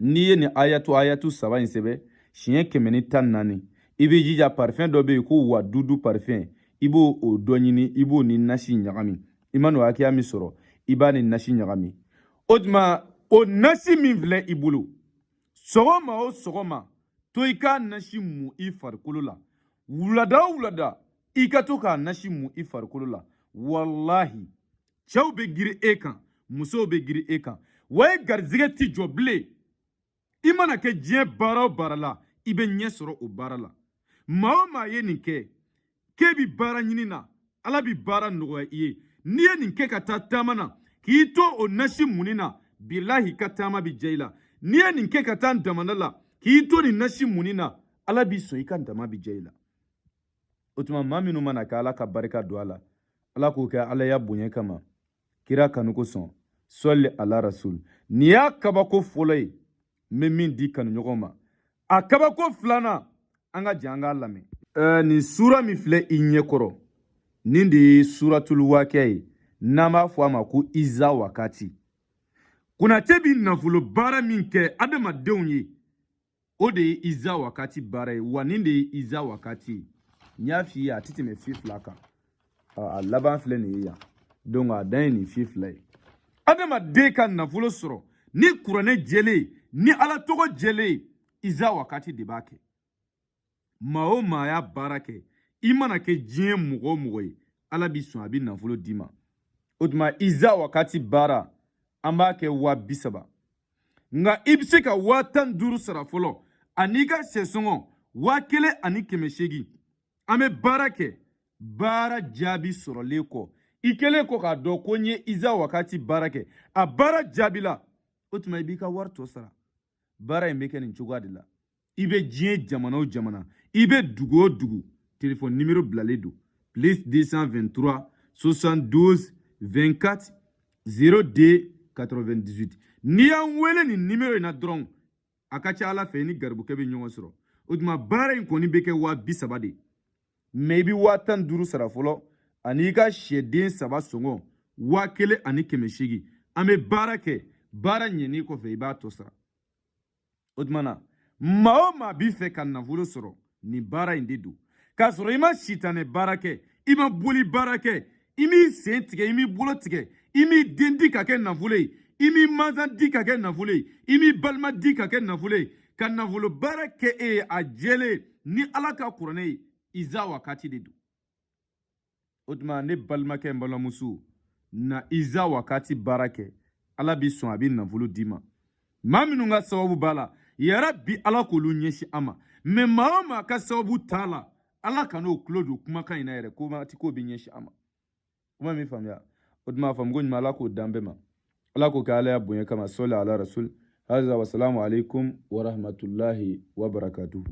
n'i ye nin ayatu ayatu saba in sɛbɛ siɲɛ kɛmɛ ni tan naani i b'i jija parifɛn dɔ bɛ yen ko wadudu parifɛn i b'o dɔ ɲini i b'o ni nasi ɲagami i man'o hakɛya min sɔrɔ i b'a ni nasi ɲagami o tuma o nasi min filɛ i bolo sɔgɔma o sɔgɔma to i k'a nasi mu i farikolo la wulada o wulada i ka to k'a nasi mu i farikolo la walahi cɛw bɛ girin e kan musow bɛ girin e kan wa e garizigɛ ti jɔ bilen i mana kɛ diɲɛ baara o baara la i bɛ ɲɛ sɔrɔ o baara la maa o maa ye nin kɛ k'e bi baara ɲini na ala bi baara nɔgɔya i ye n'i ye nin kɛ ka taa taama na k'i to o nasi munni na bilahi i ka taama bi diya i la n'i ye nin kɛ ka taa damana la k'i to nin nasi munni na ala b'i sɔn i ka dama bi diya i la o tuma maa minnu man'a kɛ ala ka barika don a la ala k'o kɛ ala ya bonya kama kira kanu kosɔn sɔli ala rasul nin y'a kabako fɔlɔ ye n bɛ min di kanuɲɔgɔn ma a kabako filanan an ka jɛ an k'a lamɛn ɛɛ nin suura min filɛ i ɲɛkɔrɔ nin de ye suuratul waakiya ye n'an b'a fɔ a ma ko iza wakati konate bi nafolo baara min kɛ adamadenw ye o de ye iza wakati baara ye wa nin de ye iza wakati ye n y'a f'i ye a tɛ tɛmɛ fi fila kan a laban filɛ nin ye yan donc a dan ye nin fi fila ye adamaden ka nafolo sɔrɔ ni kuranɛ jɛlen ye ni ala tɔgɔ jɛlen ye iza wakati de b'a kɛ maa o maa y'a baara kɛ i mana kɛ diɲɛ mɔgɔ o mɔgɔ ye ala b'i sɔn a bi nafolo d'i ma o tuma iza wakati baara an b'a kɛ waa bi saba nka i bɛ se ka waa tan ni duuru sara fɔlɔ an'i ka sɛ sɔngɔ waa kelen ani kɛmɛ seegin an bɛ baara kɛ baara jaabi sɔrɔlen kɔ i kɛlen kɔ k'a dɔn ko n ye iza wakati baara kɛ a baara jaabila o tuma i b'i ka wari tɔ sara baara in bɛ kɛ nin cogoya de la i bɛ diɲɛ jamana o jamana i bɛ dugu o dugu telefɔni nimero bilalen don plus 223 72 24 02 98 n'i y'an wele nin nimero in na dɔrɔn a ka ca ala fɛ i ni garibukɛ bɛ ɲɔgɔn sɔrɔ o tuma baara in kɔni bɛ kɛ waa bi saba de mɛ i bɛ waa tan duuru sara fɔlɔ ani i ka sɛden saba sɔngɔ waa kelen ani kɛmɛ seegin an bɛ baara kɛ baara ɲɛni kɔfɛ i b'a tɔ sara o tuma na maa o maa b'a fɛ ka nafolo sɔrɔ nin baara in de don k'a sɔrɔ i ma sitanɛ baara kɛ i ma boli baara kɛ i m'i sen tigɛ i m'i bolo tigɛ i m'i den di ka kɛ nafolo ye i m'i mansan di ka kɛ nafolo ye i m'i balima di ka kɛ nafolo ye ka nafolo baara kɛ e ye a jɛlen ni ala ka kuranɛ ye iza wakati de don o tuma ne balimakɛ n balimamuso na iza wakati baara kɛ ala bi sɔn a bi nafolo d'i ma maa minnu ka sababu b'a la yarabi ala k'olu ɲɛsin an ma mɛ maa o maa ka sababu t'a la ala kan'o tulo don kumakan in na yɛrɛ kuma tɛ k'o bɛ ɲɛsin an ma kuma min faamuya o tuma a faamuko ɲuman ala k'o d'an bɛɛ ma ala k'o kɛ alaya bonya kama sɔli ala rasul haza wasalamu alaikum warahmatulahi wabarakatuhu